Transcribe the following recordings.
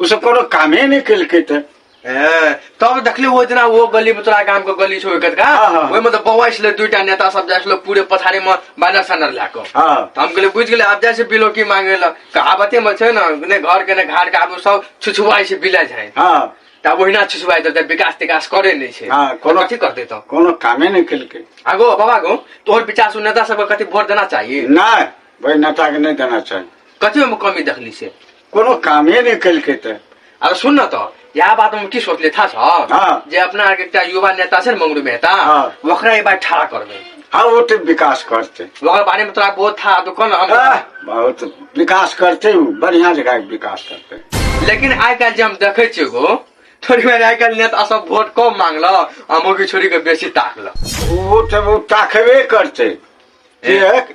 ओ सब कोनो कामे नहि केलकै तऽ ए, तब देखले वो जना वो गली में तोरा गांव के गली छो एकत का हाँ, हाँ। ओइ में तो बौआ छले दुईटा नेता सब जाय छलो पूरे पथारी में बानर सानर ला के हँ त हम कहले बुझ गेले आब जाय छै बिलो की मांगे ल कहावते में छै न ने घर के ने घाट के आबू सब छुछुआई छै बिला जाय हँ त आब ओहिना छुछुआई देते विकास तिकास करे नहि छै हाँ, कोनो- कथी करते त कोनो कामे नहि केलकै आगो बाबा गो तोहर विचार सुन नेता सबके कथी वोट देना चाहिए नहि भाइ नेताके नहि देना चाही कथी में कमी देखली से कोनो कामे नहि केलकै तऽ अरे सुन न तऽ इएह बात हम की सोचले था सर हाँ। जे अपना आरके एकटा युवा नेता छै ने मंगरू मेहता हाँ। ओकरा ई बात ठाड़ा करबै हँ ओ तऽ विकास करतै ओकर बारेमे तोरा बहुत था तो कौन हम आह, बहुत विकास करतै ओ बढ़िया जगह विकास करतै लेकिन आइ काल्हि जे हम देखै छियै गो थोड़ी बेर आइ काल्हि नेता सब वोट कम मांगल आ मौगी छोड़ी के बेसी ताकल ओ तऽ ओ ताकबे करतै किएक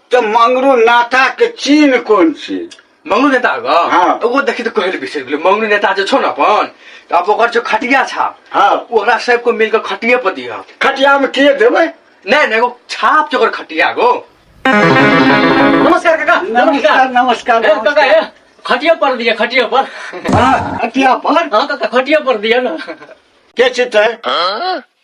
तऽ मंगरू नाता के चिन्ह कोन छी मंगरू नेता आगा हाँ। ओकरो देखी तऽ कहै लए बिसरि गेलै मंगरू नेता जे छौ ने अपन तऽ आब ओकर जो खटिया छाप हाँ। ओकरा सबको मिल कऽ खटिये पर दिहऽ खटिया में के देबै नहि नहि एगो छाप छै ओकर खटिया गो नमस्कार काका नमस्कार नमस्कार ए, काका ए, खटिया पर दिए खटिया पर हाँ, खटिया पर हाँ काका खटिया पर दिए ना के छी तै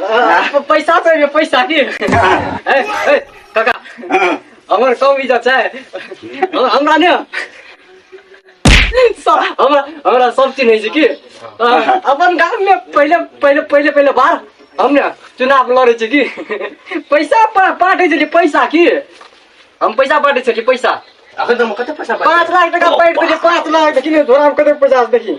प- पैसा चाहिए पैसा की ए, ए, काका हमर कम इज्जत छै हम- हमरा ने स- हमरा हमरा सब चीज नहि छै की अ, अपन गाम में पहिले पहिले पहिले पहिले बार हम ने चुनाव लड़े छी की पैसा पा- बाँटे छलियै पैसा की हम पैसा बाँटे छलियै पैसा अखन त म कतै पैसा पाँच लाख टका बाँटि देलियै पाँच लाख देखि ने धोराम कते पचास देखि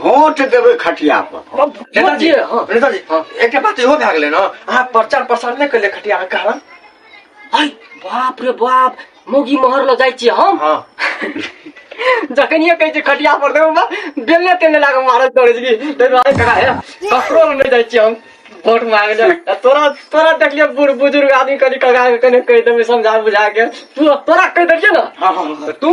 वोट देबै खटिया पर अब नेताजी वोट दिए, हाँ। नेताजी हाँ। एकटा बात इहो भए गेलै ने अहाँ प्रचार प्रसार नहि केलियै खटिया के कारण आय बाप रे बाप मौगी महर लऽ जाइ छियै हम हँ जखनिए कहै छै खटिया पर देबो बा बेलने तेलने लागल मारत दौड़ै छी ताहि दुआरे करा हे ककरो लग नहि जाइ छियै हम वोट मांगे ले आ तोरा तोरा देखलियै बूढ़ बुजुर्ग आदमी कनि कगा के कने कहि देबै समझा बुझा के तू तोरा कहि देलियै ने हँ हँ हँ। तू